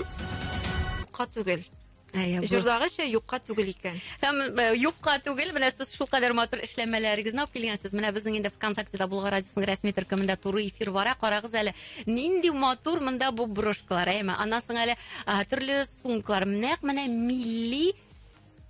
Юкка түгел. Җырдагыча юкка түгел икән. Һәм э, юкка түгел, менә сез шул кадәр матур эшләмәләрегезне алып килгәнсез. Менә безнең инде ВКонтактеда Булга радиосының рәсми төркемендә туры эфир бара. Карагыз әле, нинди матур монда бу брошкалар, әйме. Аннан соң әле э, төрле сумкалар. Нәкъ менә милли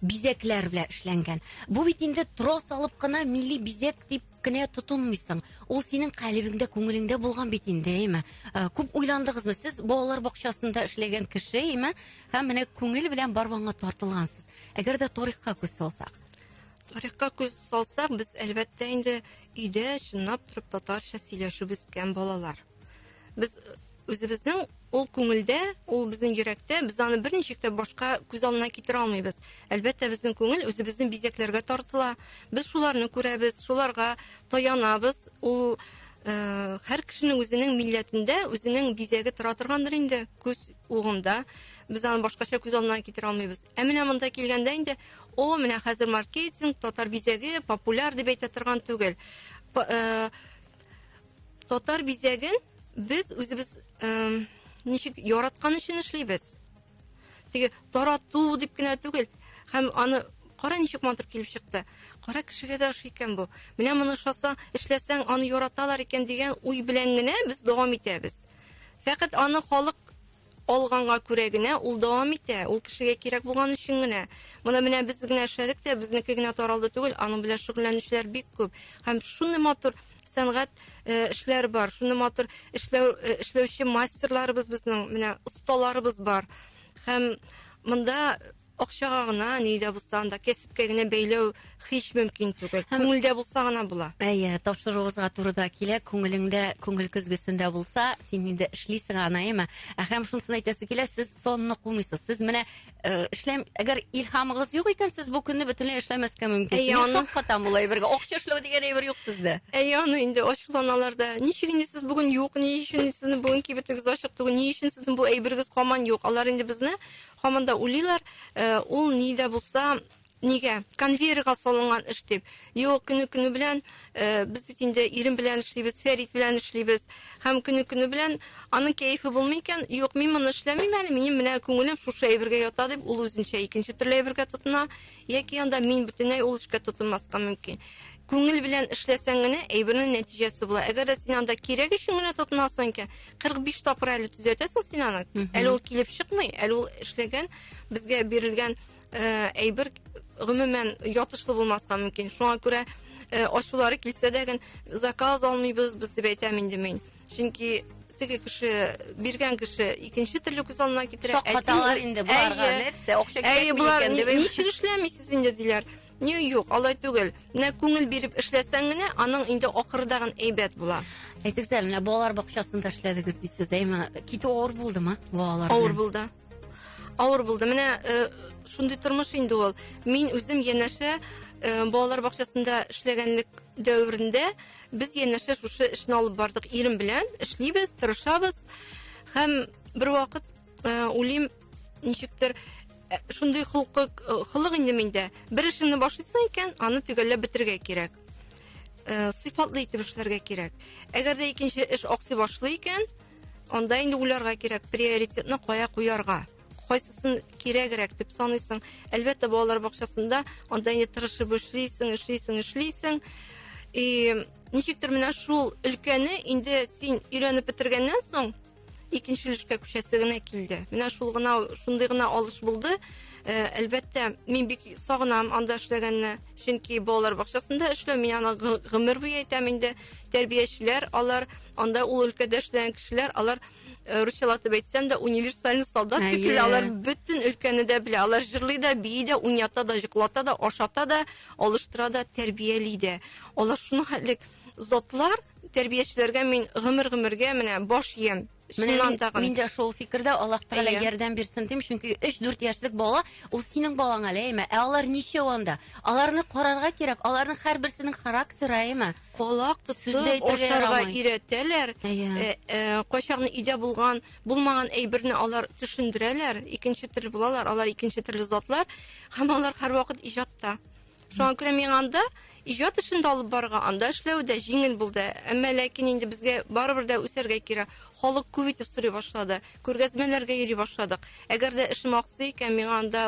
бизәкләр белән эшләнгән. Бу бит инде трос алып кына милли бизәк дип кенә тотынмыйсың. Ул синең калебеңдә, күңелеңдә булган бит инде, әйме? Э, күп уйландыгызмы сез балалар бакчасында эшләгән кеше, әйме? Һәм менә күңел белән барбанга тартылгансыз. Әгәр дә тарихка күз салсак. Тарихка күз салсак, без әлбәттә инде өйдә чынлап торып татарча сөйләшеп үскән балалар. Без үзебезнең ул күңелдә, ул безнең йөрәктә, без аны берничек тә башка күз алдына китерә алмыйбыз. Әлбәттә, безнең күңел үзебезнең бизәкләргә тартыла. Без шуларны күрәбез, шуларга таянабыз. Ул э, һәр кешенең үзенең милләтендә үзенең бизәге тора торгандыр инде күз угында. Без аны башкача күз алдына китерә алмыйбыз. Ә менә монда килгәндә инде, о, менә хәзер маркетинг, татар бизәге популяр дип әйтә торган түгел. Э, Татар бизәген без үзебез эм, ничек яраткан өчен эшлибез. Теге тарату дип кенә түгел, һәм аны кара ничек матур килеп чыкты. Кара кешегә дә ошый икән бу. Менә моны шаса, эшләсәң, аны яраталар икән дигән уй белән генә без дәвам итәбез. Фәкать аны халык алганга күрә генә ул дәвам итә, ул кешегә кирәк булган өчен генә. Моны менә без генә эшләдек тә, безнеке генә таралды түгел, аның белән шөгыльләнүчеләр бик күп. Һәм шуны матур сәнгать э, эшләр бар, шуны матур эшләү, э, эшләүче мастерларыбыз безнең, менә осталарыбыз бар. Һәм монда Акчага гына, ни дә булса анда кәсепкә генә бәйләү һич мөмкин түгел. Һәм... Күңелдә булса гына була. Әйе, тапшыруыгызга туры да килә. Күңелеңдә, күңел көзгесендә булса, син инде эшлисең аны, әйеме? Ә һәм шунысын әйтәсе килә, сез сонны кумыйсыз. Сез менә э, эшләм, әгәр илһамыгыз юк икән, сез бу көнне бөтенләй эшләмәскә мөмкин. Әйе, аны... Шаккатам болай бергә. Акча эшләү дигән әйбер юк сездә. Әйе, аны инде ачуланалар да. Ничек инде сез бүген юк, ни өчен сезнең бүген кибетегез ачык түгел, ни өчен сезнең бу әйбергез каман юк? Алар инде безне Һаман да уйлыйлар, ул ни дә булса, нигә, конвейерга салынган эш дип. Юк, көне-көне белән, без бит инде ирем белән эшлибез, Фәрит белән эшлибез. Һәм көне-көне белән аның кәефе булмый икән, юк, мин моны эшләмим әле, минем менә күңелем шушы әйбергә ята, дип, ул үзенчә икенче төрле әйбергә тотына. Яки анда мин бөтенләй ул эшкә тотынмаска мөмкин. Күңел белән эшләсәң генә әйбернең нәтиҗәсе була. Әгәр дә син анда кирәк өчен генә тотынасың икән, 45 тапкыр әле төзәтәсең син аны. Әле ул килеп чыкмый, әле ул эшләгән, безгә бирелгән э, әйбер гомумән ятышлы булмаска мөмкин. Шуңа күрә э, ачулары килсә дә генә заказ алмыйбыз, без дип әйтәм инде мин. чөнки теге кеше биргән кеше икенче төрле күз алдына китерә шаккаталар инде боларга нәрсә акча кирәкми икән дип ничек эшләмисез инде диләр не юк алай түгел менә күңел биреп эшләсәң генә аның инде акырдагын әйбәт була әйтегез әле менә балалар бакчасында эшләдегез дейсез әйме китү авыр булдымы балалар авыр булды авыр булды менә э, шундый тормыш инде ул мин үзем янәшә э, балалар бакчасында эшләгәнлек дәверендә Без янәшә шушы эшне алып бардык ирем белән. Эшлибез, тырышабыз. Һәм бер вакыт э, улим ничектер э, шундый холкы э, холык инде миндә. Бер эшеңне башлыйсың икән, аны төгәлләп бетергә кирәк. Э, сыйфатлы итеп эшләргә кирәк. Әгәр дә икенче эш аксый башлый икән, анда инде уйларга кирәк приоритетны кая куярга. кайсысын кирәгрәк дип саныйсың әлбәттә балалар бакчасында анда инде тырышып эшлисең эшлисең эшлисең и ничектер менә шул өлкәне инде син өйрәнеп бетергәннән соң икенче өлешкә күчәсе генә килде менә шул гына шундый гына алыш булды ә, әлбәттә мин бик сагынам анда эшләгәнне чөнки балалар бакчасында эшләү мин аны гомер буе әйтәм инде тәрбиячеләр алар анда ул өлкәдә эшләгән кешеләр алар Э, русчалатып әйтсәм дә универсальный солдат шикелле алар бөтен өлкәне дә белә алар җырлый да бии дә уйната да йоклата да ашата да алыштыра да тәрбияли дә алар шуны хәтлек затлар тәрбиячеләргә мин гомер гомергә менә баш иям мин дә шул фикердә аллаһ тәгалә ярдәм бирсен дим чөнки өч дүрт яшьлек бала ул синең балаң әле әйме ә алар ничәү анда аларны карарга кирәк аларның һәрберсенең характеры әйме колак тотып ашарга өйрәтәләр. Э, э, кайчакны өйдә булган, булмаган әйберне алар төшендерәләр, икенче төрле булалар, алар икенче төрле затлар, һәм алар һәрвакыт иҗатта. Шуңа күрә миңа анда иҗат эшен дә алып барырга, анда эшләү дә җиңел булды. Әмма ләкин инде безгә барыбер дә үсәргә кирәк. Халык күп итеп сорый башлады. Күргәзмәләргә йөри башладык. Әгәр дә эшем аксый икән, миңа анда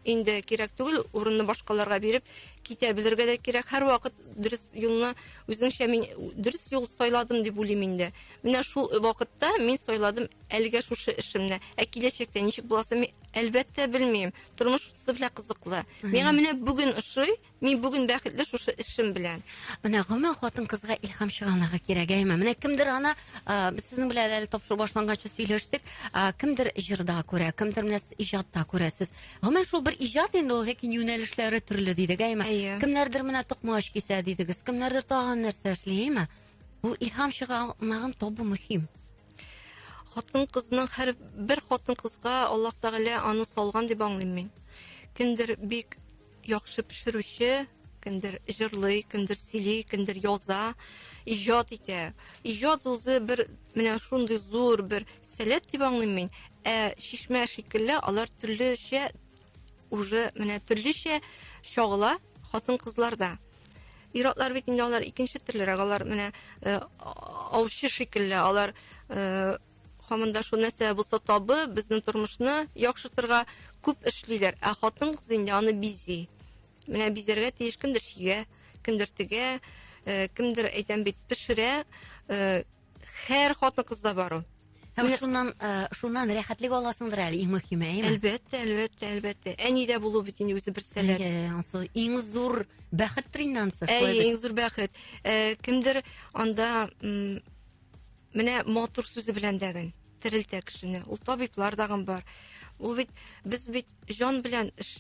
инде кирәк түгел, урынны башкаларга биреп китә белергә дә кирәк. Һәрвакыт дөрес юлны үзеңчә мин дөрес юл сайладым дип уйлыйм инде. Менә шул вакытта мин сайладым әлегә шушы эшемне. Ә киләчәктә ничек буласын мин әлбәттә белмим. Тормыш шунысы белән кызыклы. Миңа менә бүген ошый, Мин бүген бәхетле шушы эшем белән. Менә гомумән хатын-кызга илһам чыганагы кирәк, әйме? Менә кемдер ана, а, без сезнең белән әле тапшыру башланганчы сөйләштек, а, кемдер җырда күрә, кемдер менә сез иҗатта күрәсез. Гомумән шул бер иҗат инде ул, ләкин юнәлешләре төрле дидек, әйме? Әйе. Кемнәрдер менә токмач кисә дидегез, кемнәрдер тагын нәрсә эшли, әйме? Бу илһам чыганагын табу мөһим. Хатын кызның һәр бер хатын кызга Аллаһ Тәгалә аны салган дип аңлыйм мин. Кемдер бик яхшы пешерүче, кемдер җырлый, кемдер сөйли, кемдер яза, иҗат итә. Иҗат үзе бер менә шундый зур бер сәләт дип аңлыйм мин. Ә шишмә шикелле алар төрлечә уже менә төрлечә чагыла хатын-кызларда. Иратлар бит инде алар икенче төрлерәк, алар менә э, аучы шикелле, алар э, Хамында шул нәрсә булса табы, безнең тормышны яхшыртырга күп эшлиләр. Ә хатын кыз инде аны бизи. Менә бизәргә тиеш кемдер чигә, кемдер тегә, э, кемдер әйтәм бит пешерә. Э, һәр хатын кызда бар ул. Һәм шуннан э, шуннан рәхәтлек аласыңдыр әле иң мөһиме, әйме? Әлбәттә, әлбәттә, әлбәттә. Әнидә булу бит инде үзе бер сәләт. Әйе, ансы иң зур бәхет тринансы. Әйе, иң зур бәхет. Э, кемдер анда Менә матур сүзе белән дәген терелтә кешене. Ул табиблар дагын бар. Ул бит без бит җан белән эш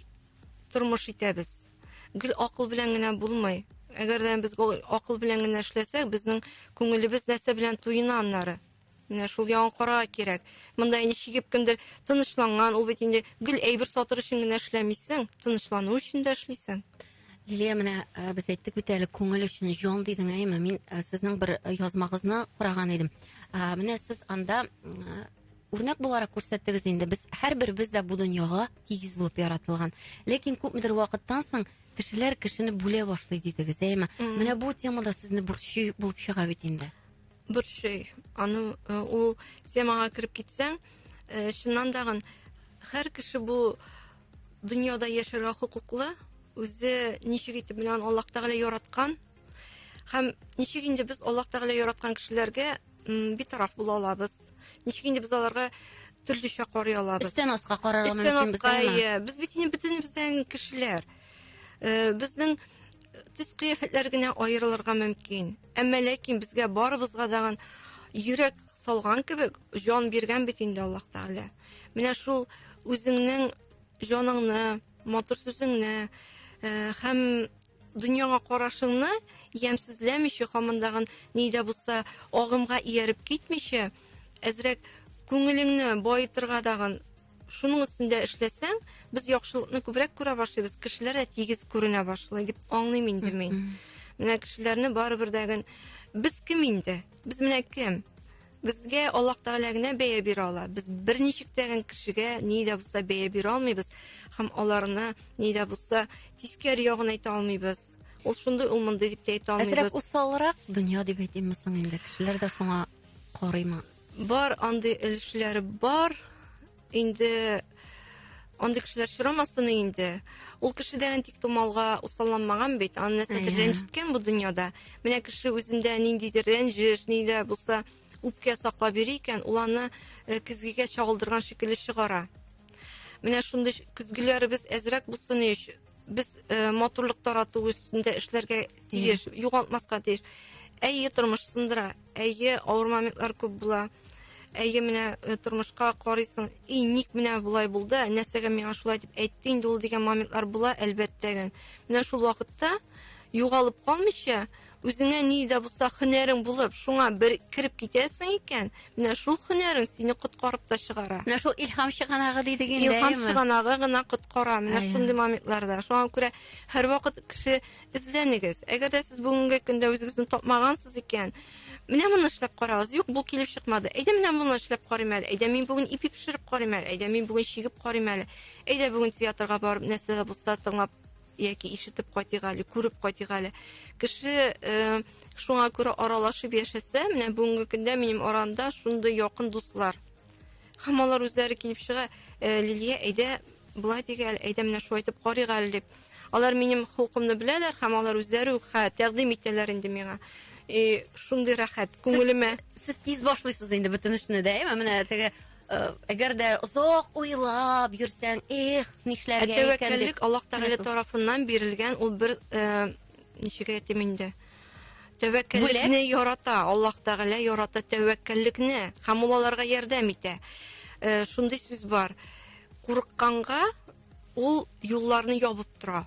тормыш итәбез. Гел акыл белән генә булмый. Әгәр дә без акыл белән генә эшләсәк, безнең күңелебез нәрсә белән туена аннары? Менә шул яңа карага кирәк. Монда инде чигеп кемдер тынычланган, ул бит инде гел әйбер сатыр өчен генә эшләмисең, тынычлану өчен дә эшлисең. Лилия, менә э, без әйттек бит әле күңел өчен җон дидең, әйме? Мин э, сезнең бер э, язмагызны караган идем. Менә сез анда үрнәк буларак күрсәттегез инде. Без һәрберебез дә бу дөньяга тигез булып яратылган. Ләкин күпмедер вакыттан соң кешеләр кешене бүлә башлый дидегез, әйме? Менә бу темада сезне борчый булып чыга бит инде. Борчый. Аны ул темага кереп китсәң, чыннан да һәр кеше бу Дөньяда яшәргә хокуклы, үзе ничек итеп белән Аллаһ Тәгалә яраткан һәм ничек инде без Аллаһ Тәгалә яраткан кешеләргә битараф була алабыз? Ничек инде без аларга төрлечә карый алабыз? Өстән аска карарга мөмкин без аны. Без бит инде бөтен безнең кешеләр. Э, безнең төс кыяфәтләр генә аерылырга мөмкин. Әмма ләкин безгә барыбызга даган йөрәк салган кебек җан биргән бит инде Аллаһ Тәгалә. Менә шул үзеңнең җаныңны, матур сүзеңне э, һәм дөньяңа карашыңны ямьсезләмичә, хамындагын ни дә булса агымга ияреп китмичә, әзрәк күңелеңне баетырга дагын шуның өстендә эшләсәң, без яхшылыкны күбрәк күрә башлыйбыз, кешеләр дә тигез күренә башлый дип аңлыйм инде мин. Менә кешеләрне барыбер дә без кем инде? Без менә кем? Безгә Аллаһ Тәгалә генә бәя бирә ала. Без берничек тә кешегә ни дә булса бәя бирә алмыйбыз һәм аларны ни дә булса тискәр ягын әйтә алмыйбыз. Ул шундый, ул мондый дип тә әйтә алмыйбыз. Әзрәк усалрак дөнья дип әйтимме соң инде? Кешеләр дә шуңа карыймы? Бар андый өлешләре бар. Инде андый кешеләр очрамасын инде. Ул кеше дә антик тумалга усалланмаган бит, аны нәрсәдер рәнҗеткән бу дөньяда. Менә кеше үзендә ниндидер рәнҗеш, ни дә булса үпкә саклап йөри икән, ул аны э, көзгегә чагылдырган шикелле чыгара. Менә шундый көзгеләребез әзрәк булсын өч Без э, матурлык тарату өстендә эшләргә тиеш, югалтмаска тиеш. Әйе, тормыш сындыра, әйе, авыр моментлар күп була. Әйе, менә э, тормышка карыйсың, и ник менә болай булды, нәрсәгә миңа шулай дип әйтте инде ул дигән моментлар була, әлбәттә генә. Менә шул вакытта югалып калмыйча, Үзеңә ни дә булса һөнәрең булып, шуңа бер кереп китәсең икән, менә шул һөнәрең сине коткарып та чыгара. Менә шул илһам чыганагы дидек инде. Илһам чыганагы гына коткара менә шундый моментларда. Шуңа күрә һәрвакыт кеше эзләнегез. Әгәр дә сез бүгенге көндә үзегезне тапмагансыз икән, менә моны эшләп карагыз. Юк, бу килеп чыкмады. Әйдә менә моны эшләп карыйм әле. Әйдә мин бүген ипи пешереп карыйм әле. Әйдә мин бүген чигеп карыйм әле. Әйдә бүген театрга барып нәрсә дә булса тыңлап яки ишетеп кайтыйк әле, күреп кайтыйк әле. Кеше э, шуңа күрә аралашып яшәсә, менә бүгенге көндә минем аранда шундый якын дуслар. Һәм алар үзләре килеп чыга, э, Лилия, әйдә, былай диге әле, әйдә менә шулай итеп карыйк әле дип. Алар минем хокукымны беләләр һәм алар үзләре үк хә тәкъдим итәләр инде миңа. И шундый рәхәт күңелемә. Сез, сез тиз башлыйсыз инде бөтен эшне дә, әйме? Менә теге Э, әгәр дә озак уйлап йөрсәң, эх, нишләргә икән дип. Тәвәккәллек Аллаһ Тәгалә тарафыннан бирелгән ул бер э, ничек әйтим инде? Тәвәккәллекне ярата, Аллаһ Тәгалә ярата тәвәккәллекне һәм ул аларга ярдәм итә. Э, шундый сүз бар. Курыкканга ул юлларны ябып тора.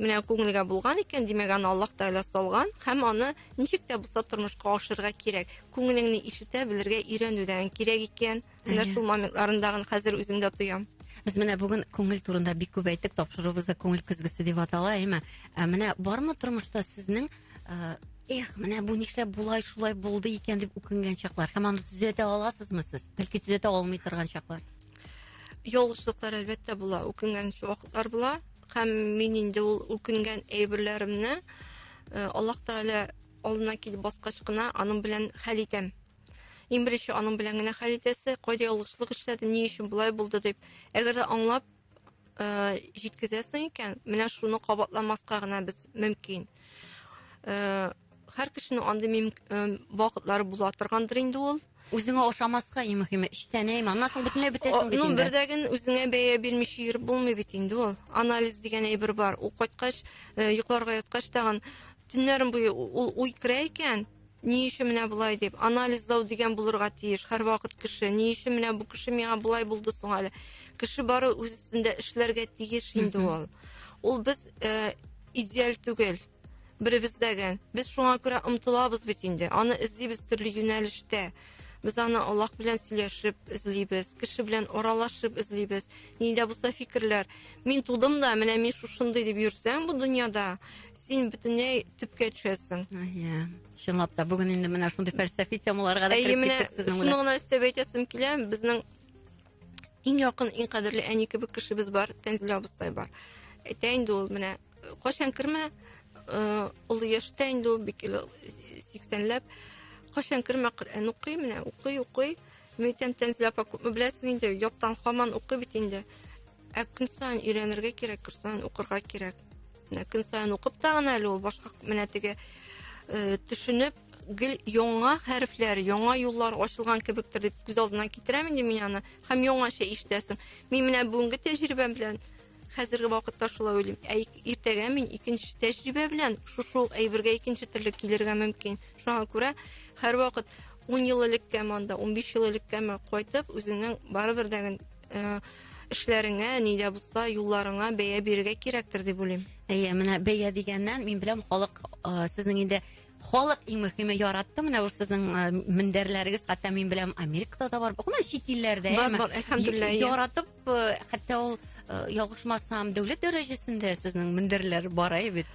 Менә күңелгә булган икән, димәк, аны Аллаһ Тәгалә салган һәм аны ничек тә булса тормышка ашырга кирәк. Күңелеңне ишетә белергә өйрәнүдән кирәк икән. Менә шул моментларында хәзер үзем дә тоям. Без менә бүген күңел турында бик күп әйттек, тапшыруыбыз да күңел көзгесе дип атала, әйме? Ә менә бармы тормышта сезнең эх, менә бу нишләп болай шулай булды икән дип үкенгән чаклар һәм аны төзәтә аласызмы сез? Бәлки төзәтә алмый торган чаклар. Ялгышлыклар әлбәттә була, үкенгән вакытлар була. Һәм мин инде ул үкенгән әйберләремне э, Аллаһ Тәгалә алдына килеп баскач кына аның белән хәл итәм. Иң беренче аның белән генә хәл итәсе, кайда ялгышлык эшләде, ни өчен болай булды дип. Әгәр дә аңлап э, җиткезәсең икән, менә шуны кабатламаска гына без мөмкин. Э, Һәр кешенең андый мим вакытлары була торгандыр инде ул. Үзеңә ошамаска иң мөһиме, эчтәнәйме? Аннан соң бөтенләй бетәсең бит инде. Ну, бердәген үзеңә бәя бирмичә йөреп булмый бит инде ул. Анализ дигән әйбер бар. Ул кайткач, э, йокларга яткач тагын төннәрен буе ул уй керә икән, ни өчен менә болай дип анализлау дигән булырга тиеш һәрвакыт кеше ни өчен менә бу кеше миңа болай булды соң әле кеше бары үз өстендә эшләргә тиеш инде ул ул без э, идеаль түгел Беребез дәге. Без шуңа күрә омтылабыз бит инде. Аны эзлибез төрле юнәлештә. Без аны Аллаһ белән сөйләшеп эзлибез, кеше белән аралашып эзлибез. Нидә булса фикерләр. Мин тудым да, менә мин шушындый дип йөрсәң бу дөньяда, син бөтенләй төпкә төшәсең. Иә. Чынлап та бүген инде менә шундый фәлсәфи темаларга да кереп киттек сезнең белән. Шуны гына өстәп әйтәсем килә, безнең иң якын, иң кадерле әни кебек кешебез бар, Тәнзилә абыстай бар. Әйтә инде ул менә Кайчан кермә, ул яшьтә инде ул бик сиксәнләп, кайчан кермә Коръән укый, менә укый, укый. Мөйтәм тәнзилә апа күпме беләсең инде, яттан хаман укый бит инде. Ә көн саен өйрәнергә кирәк, көн саен укырга кирәк. Менә көн саен укып та гына әле ул башка менә теге төшенеп, гел яңа хәрефләр, яңа юллар ачылган кебектер дип күз алдына китерәм инде мин аны. Һәм яңача ишетәсең. Мин менә бүгенге тәҗрибәм белән Хәзерге вакытта шулай уйлыйм. Ә иртәгә мин икенче тәҗрибә белән шушы ук әйбергә икенче төрле килергә мөмкин. Шуңа күрә һәрвакыт 10 ел элеккәме анда, 15 ел элеккәме кайтып, үзеңнең барыбер дәген э, эшләреңә, ни дә булса, юлларыңа бәя бирергә кирәктер дип уйлыйм. Әйе, менә бәя дигәннән мин беләм халык э, сезнең инде халык иң мөһиме яратты менә ул сезнең э, мендәрләрегез хәтта мин беләм америкада да бар гомумән чит илләрдә Бар, бар, әлхәмдулиллаһ, иә. яратып э, хәтта ул э, ялгышмасам дәүләт дәрәҗәсендә сезнең мендәрләр бара бит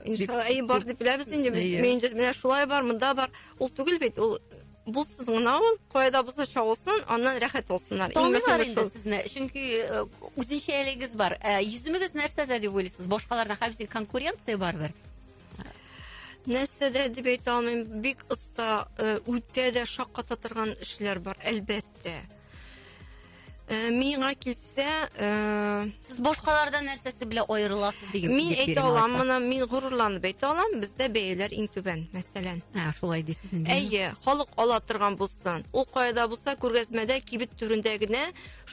иншалла бар дип беләбез инде без менде менә шулай бар монда бар ул түгел бит ул булсын гына ул кайда булса чагылсын аннан рәхәт булсыннар таныйлар инде сезне чөнки э, үзенчәлегегез бар э, йөземегез нәрсәдә дип уйлыйсыз башкалардан хәбисен конкуренция барыбер нәрсәдә дип әйтә алмыйм бик оста э, үтә дә шакката торган эшләр бар әлбәттә Э, миңа килсә э, сез башкалардан нәрсәсе белә аерыласыз дигән мин әйтә алам моны мин горурланып әйтә алам бездә бәяләр иң түбән мәсәлән ә шулай дисез инде әйе халык ала торган булсын ул каяда булса күргәзмәдә кибет түрендә генә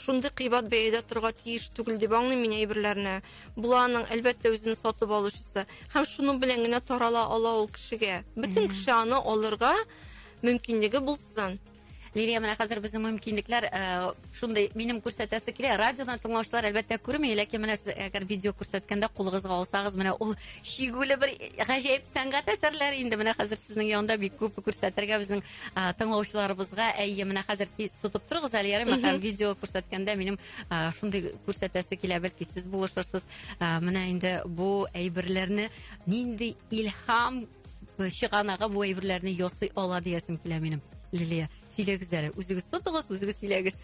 шундый кыйбат бәядә торырга тиеш түгел дип аңлыйм мин әйберләрне боларның әлбәттә үзенең сатып алучысы һәм шуның белән генә тарала ала ул кешегә бөтен кеше аны алырга мөмкинлеге булсын Лилия, менә хәзер безнең мөмкинлекләр э, шундый минем күрсәтәсе килә. Радиодан тыңлаучылар әлбәттә күрми, ләкин менә сез әгәр видео күрсәткәндә кулыгызга алсагыз, менә ул шигүле бер гаҗәеп сәнгать әсәрләре инде менә хәзер сезнең янында бик күп күрсәтергә безнең э, тыңлаучыларыбызга. Әйе, менә хәзер тиз тотып торыгыз әле ярыймы һәм видео күрсәткәндә минем э, шундый күрсәтәсе килә, бәлки сез булышырсыз. Э, менә инде бу әйберләрне нинди илһам чыганагы бу әйберләрне ясый ала диясем килә минем лилия сөйләгез әле үзегез тотыгыз үзегез сөйләгез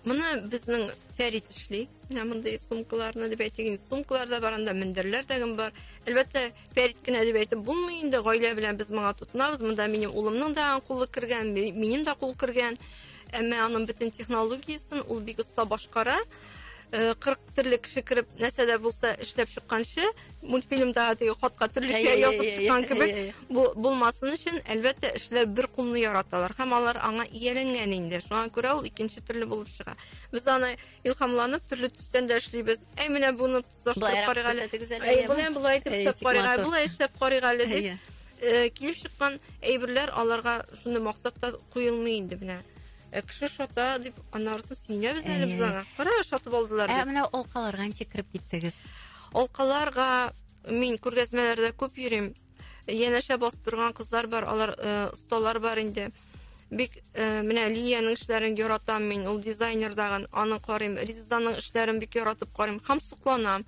мына безнең фәрит эшли менә мондый сумкаларны дип әйтик инде сумкалар да бар анда мендәрләр дә бар әлбәттә фәрит кенә дип әйтеп булмый инде гаилә белән без моңа тотынабыз монда минем улымның да кулы кергән минем дә кул кергән әмма аның бөтен технологиясен ул бик оста башкара э, кырык төрле кеше кереп нәрсә дә булса эшләп чыкканчы мультфильмда теге хатка төрлечә язып чыккан кебек булмасын өчен әлбәттә эшләр бер кулны яраталар һәм алар аңа ияләнгән инде шуңа күрә ул икенче төрле булып чыга без аны илһамланып төрле төстән дә эшлибез әй менә буны Озаштырып карыйк әле. Әйе, болай болай итеп эшләп карыйк әле, болай эшләп карыйк әле дип э, килеп чыккан әйберләр аларга шуны максатта куелмый инде менә. Ә кеше шата дип анарысын сөенәбез әле без аңа. Кара, шатып алдылар дип. Ә менә алкаларга ничек кереп киттегез? Алкаларга мин күргәзмәләрдә күп йөрим. янәшә басып торган кызлар бар алар осталар э, бар инде бик э, менә линиянең эшләрен яратам мин ул дизайнер дагын аны карыйм ризаның эшләрен бик яратып карыйм һәм сокланам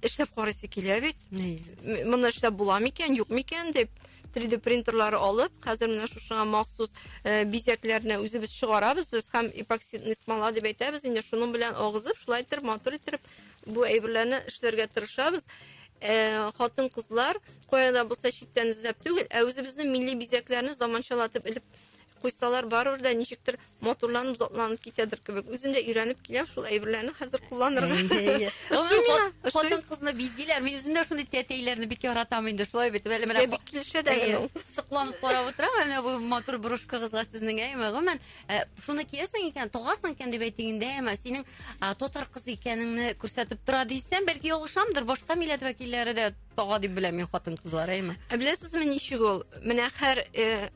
эшләп карыйсы килә бит моны эшләп була микән юк микән дип 3D принтерлары алып, хәзер менә шушыга махсус э, бизәкләрне үзебез чыгарабыз без һәм эпоксидный смола дип әйтәбез, инде шуның белән агызып, шулай итеп матур итеп Бу әйберләрне эшләргә тырышабыз. Ә, хатын-кызлар кая да булса читтән эзләп түгел, ә үзебезнең милли бизәкләрне заманчалатып элеп куйсалар, барыбер дә ничектер матурланып, затланып китәдер кебек. Үзем дә өйрәнеп киләм шул әйберләрне хәзер кулланырга. Хатын-кызны биздиләр. Мин үзем дә шундый тәтәйләрне бик яратам инде. Шулай бит. Әле менә бик килешә дә. Сокланып карап утырам. Менә бу матур брошкагызга сезнең әйме. Гомумән, Ә, шуны киясең икән, тогасың икән дип әйтик инде, әмма синең а, татар кызы икәнеңне күрсәтеп тора дисәм, бәлки ялгышамдыр, башка милләт вәкилләре дә тога дип беләм мин хатын кызлар, әйме? Ә беләсезме ничек ул? Менә хәр э,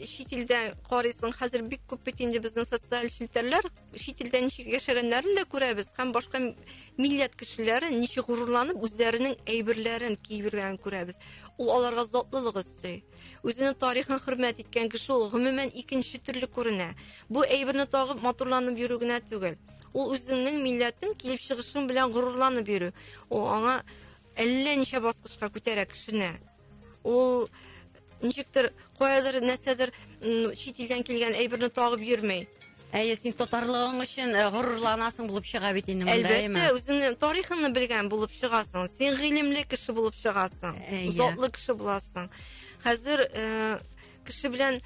чит илдә карыйсың, хәзер бик күп бит инде безнең социаль челтәрләр, чит илдә ничек яшәгәннәрен дә күрәбез һәм башка м- милләт кешеләре ничек горурланып үзләренең әйберләрен киеп йөргәнен күрәбез. Ул аларга затлылык өсти. Үзенең тарихын хөрмәт иткән кеше ул гомумән икенче төрле күренә. Бу әйберне тагып матурланып йөрү генә түгел. Ул үзеңнең милләтең килеп чыгышың белән горурланып йөрү. Ул аңа әллә ничә баскычка күтәрә кешене. Ул ничектер каядыр нәрсәдер чит илдән килгән әйберне тагып йөрмәй. Әйе, син татарлыгың өчен э, горурланасың булып чыга бит инде монда, Әлбәттә, үзеңнең тарихыңны белгән булып чыгасың. Син гыйлемле кеше булып чыгасың. Әйе. Затлы кеше буласың. Хәзер э, кеше белән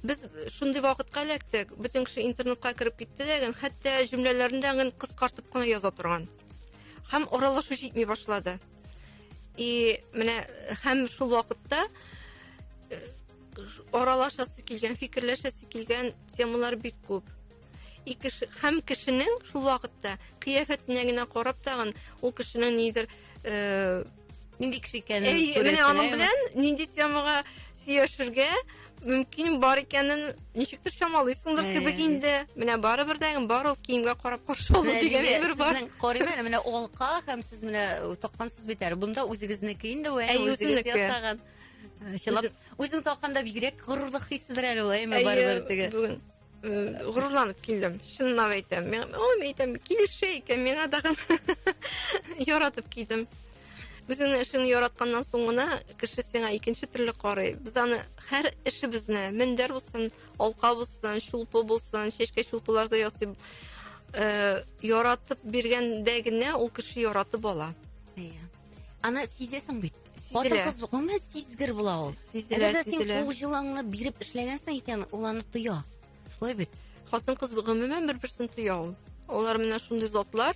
без шундый вакытка эләктек. Бөтен кеше интернетка кереп китте дә, гын, хәтта җөмләләрендә гын кыскартып кына яза торган. Һәм аралашу җитми башлады. И менә һәм шул вакытта э, аралашасы килгән, фикерләшәсе килгән темалар бик күп. И кеше һәм кешенең шул вакытта кыяфәтенә генә карап тагын ул кешенең нидер э нинди кеше икәнен Әй, менә аның белән нинди темага сөйләшергә мөмкин бар икәнен ничектер чамалыйсыңдыр кебек инде. Менә барыбер дә бар ул киемгә карап каршы алу дигән әйбер бар. Сезнең карыйм әле менә алка һәм сез менә таккансыз бит әле. Бунда үзегезнеке инде вә үзегез ясаган. Чылап, үзең тапканда бигрәк горурлык хиседер әле ул, әйме барыбер теге. Бүген э, горурланып килдем. Чынлап әйтәм. Мен аны әйтәм, килешә икән, миңа тагын яратып килдем. Үзең эшеңне яратканнан соң гына кеше сиңа икенче төрле карый. Без аны һәр эшебезне, мендәр булсын, алка булсын, шулпы булсын, чәчкә шулпыларда ясый. Э, яратып биргәндә генә ул кеше яратып ала. Иә. аны сизәсең бит хатын кыз гомумән сизгер була ул сизелә әгәр син кул җылыңны биреп эшләгәнсең икән ул аны тоя шулай бит хатын кыз гомумән бер берсен тоя ул олар менә шундый затлар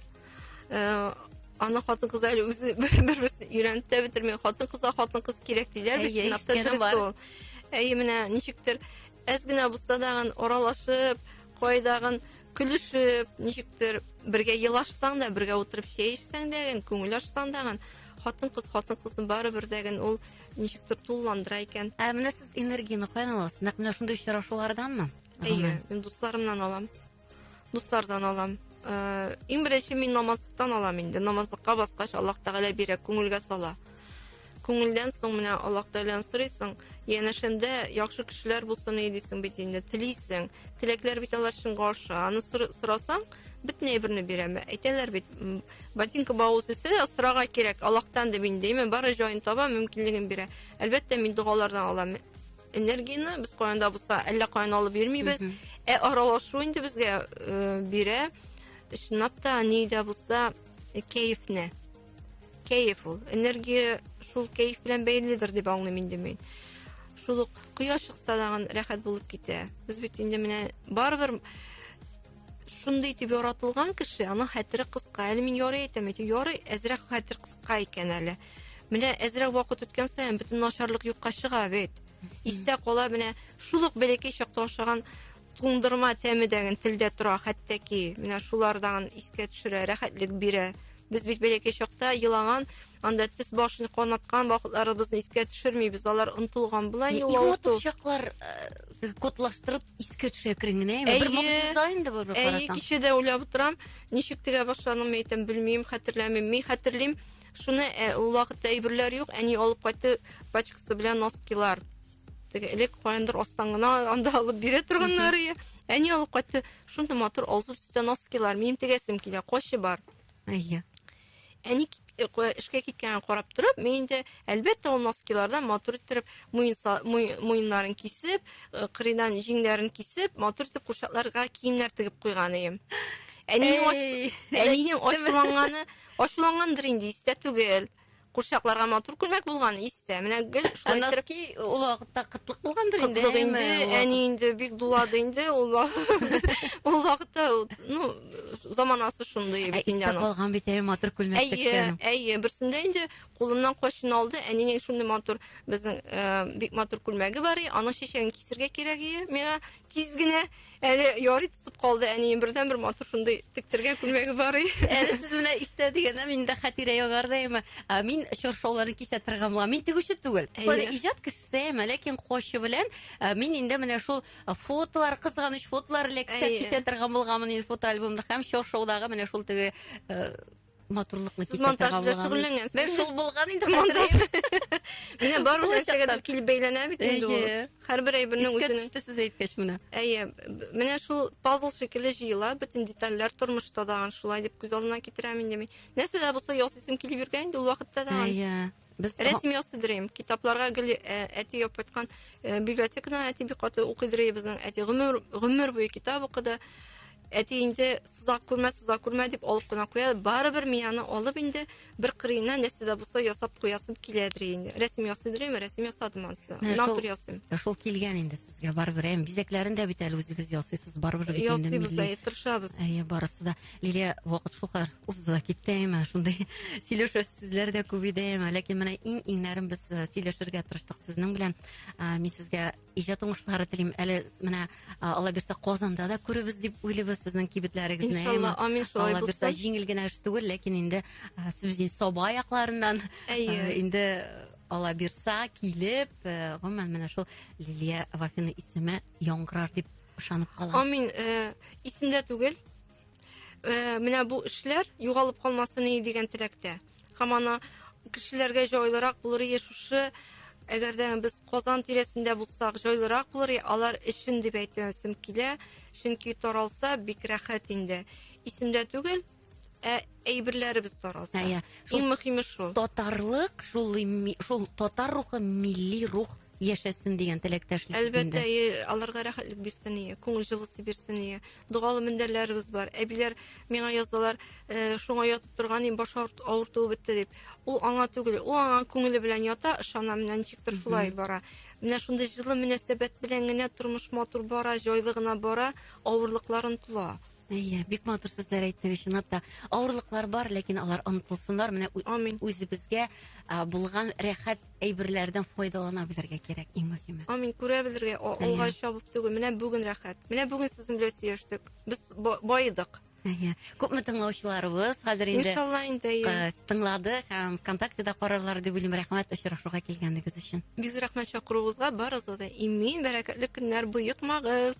э, аны хатын кыз әле үзе бер берсен өйрәнеп тә бетерми хатын кызга хатын кыз кирәк диләр бит чынлап та дөрес ул әйе менә ничектер әз генә булса дагын аралашып кайдагын көлешеп, ничектер бергә елашсаң да, бергә утырып чәй эчсәң дә, күңел ачсаң да, хатын кыз хатын кызны барыбер дә генә ул ничектер тулыландыра икән. Ә менә сез энергияне каян аласыз? Нәкъ менә шундый очрашуларданмы? Әйе, мин дусларымнан алам. Дуслардан алам. Ә, иң беренче мин намазлыктан алам инде. Намазлыкка баскач, Аллаһ Тәгалә бирә, күңелгә сала. Күңелдән соң менә Аллаһ Тәгаләне сорыйсың, янәшәмдә яхшы кешеләр булсын иде дисең бит инде, телисең. Теләкләр бит алар чынга аша. Аны сорасаң, бөтен әйберне бирә. Әйтәләр бит, ботинка бавыз үсә, сорага кирәк, Аллаһтан дип инде, әмма бары җаен таба, мөмкинлеген бирә. Әлбәттә, мин догалардан алам энергияне, без кайда булса, әллә каян алып йөрмибез. Ә аралашу инде безгә э, бирә. Чынлап та, нидә булса, э, кәефне. кәеф ул энергия шул кәеф белән бәйледер дип аңлыйм инде мин шул ук кояш чыкса дагын рәхәт булып китә без бит инде менә барыбер шундый итеп яратылган кеше аның хәтере кыска әле мин ярый әйтәм әйтәм ярый әзрәк хәтер кыска икән әле менә әзрәк вакыт үткән саен бөтен начарлык юкка чыга бит истә кала менә шул ук бәләкәй чакта ашаган туңдырма тәме дәген телдә тора хәтта ки менә шулардан искә төшерә рәхәтлек бирә без бит бәләкәй чакта елаган анда тез башын канаткан вакытларыбызны искә төшермибез алар онтылган була инде ул авырту чаклар э, кодлаштырып искә төшә әкрен генә әйе бер могҗиза инде бу әйе кичәдә уйлап утырам ничек тегә башладым әйтәм белмим хәтерләмим мин хәтерлим шуны э, ул вакытта әйберләр юк әни алып кайтты пачкасы белән носкилар Теге элек каяндыр астан гына анда алып бирә торганнар ие. Әни алып кайтты. Шунда матур алсу төстә носкилар, минем тегәсем килә, кочы бар. Әйе. Әни э, эшкә киткәнен карап торып, мин инде әлбәттә ул носкилардан матур иттереп муеннарын кисеп, э, кырыйдан җиңнәрен кисеп, матур итеп курчакларга киемнәр тегеп куйган идем. Әнинең ачуланганы, ачулангандыр инде, истә түгел. Курчакларга матур күлмәк булган истә. Менә гел шулай иттереп. Носки ул вакытта кытлык булгандыр инде. Кытлык инде, әни инде бик дулады инде ул ул вакытта, ну, заманасы шундый бит инде аның. Калган бит әй матур күлмәк теккән. Әйе, әйе, берсендә инде кулымнан качын алды, әнинең шундый матур безнең э, бик матур күлмәге бар, аның чәчәген кисергә кирәк иде миңа тиз генә. Әле ярый тотып калды әнием бердән бер матур шундый тектергән күлмәге бар и. Әле сез белән истә дигәндә мин дә хәтирә ягар да әмма мин чоршауларны кисә тыргамла. Мин тегүче түгел. Кая иҗат кешесе әмма ләкин кочы белән мин инде менә шул фотолар кызганыч фотолар эләксә кисә тыргамлган мин фотоальбомны һәм чоршаудагы менә шул теге матурлыкны Сез монтаж белән шөгыльләнгәнсез. Без шул булган инде монтаж. Менә бар ул нәрсәгә дә килеп бәйләнә бит инде ул. Һәрбер әйбернең үзенең. Искә сез әйткәч менә. Әйе, менә шул пазл шикелле җыела, бөтен детальләр тормышта да шулай дип күз алдына китерәм инде мин. Нәрсә дә булса ясыйсым килеп йөргән инде ул вакытта да. Әйе. Без рәсем ясыдырыйм. Китапларга гел э, әти яп кайткан э, библиотекадан әти бик каты укыдырый безнең әти гомер гомер буе китап укыды. Әти инде сызак күрмә, сызак күрмә дип алып кына куя. Барыбер мин аны алып инде бер кырыена нәрсә дә булса ясап куясым киләдер инде. Рәсем ясыдырыйм, рәсем ясадым ансы. Натур ясыйм. Шул килгән инде сез Сезгә барыбер әм бизәкләрен дә бит әле үзегез ясыйсыз барыбер бит инде милли. Ясыйбыз да, э, тырышабыз. Әйе, барысы да. Лилия, вакыт шул кадәр узды да китте, әйме, шундый сөйләшер сүзләр дә күп иде, әйме, ләкин менә иң-иңнәрен без э, сөйләшергә тырыштык сезнең белән. Ә, Мин сезгә иҗат уңышлары телим. Әле с- менә а, Алла бирсә Казанда да күребез дип уйлыйбыз сезнең кибетләрегезне. Иншалла, әйме. амин, шулай Алла бирсә булсын. җиңел генә эш түгел, ләкин инде а, сез инде Саба якларыннан Әйе. а, инде Алла бирса, килеп, э, гомумән менә шул Лилия Вафина исеме яңгырар дип ышанып калам. Амин. Э, исемдә түгел. Э, менә бу эшләр югалып калмасын иде дигән теләктә. Һәм ана кешеләргә җайлырак булыр иде шушы әгәр дә без Казан тирәсендә булсак, җайлырак булыр, алар өчен дип әйтәсем килә, чөнки таралса бик рәхәт инде. Исемдә түгел, Ә әйберләребез таралса. Ә, я. Шул... Иң мөхиме шул. Татарлык, шул, шул татар рухы, милли рух яшәсен дигән теләктәшлек әлбәттә аларга рәхәтлек бирсен ие күңел җылысы бирсен ие доғалы мендәрләребез бар әбиләр миңа язалар э, шуңа ятып торган ем баш авыртуы бетте дип ул аңа түгел ул аңа күңеле белән ята ышана менә ничектер шулай бара менә шундый җылы мөнәсәбәт белән генә тормыш матур бара җайлы гына бара авырлыкларын тола Әйе, бик матур сүзләр әйттегез, чынлап та. Авырлыклар бар, ләкин алар онытылсыннар. Менә Амин. үзебезгә а, булган рәхәт әйберләрдән файдалана белергә кирәк, иң мөһиме. Амин күрә белергә о- Әйе. алга чабып түгел. Менә бүген рәхәт. Менә бүген сезнең белән сөйләштек. Без ба- баедык. Әйе. Күпме тыңлаучыларыбыз хәзер инде Иншалла инде. әйе. э, тыңлады һәм ВКонтактеда карарлар дип уйлыйм. Рәхмәт очрашуга килгәнегез өчен. Бик зур рәхмәт чакыруыгызга. Барыгызга да имин, бәрәкәтле көннәр, боекмагыз.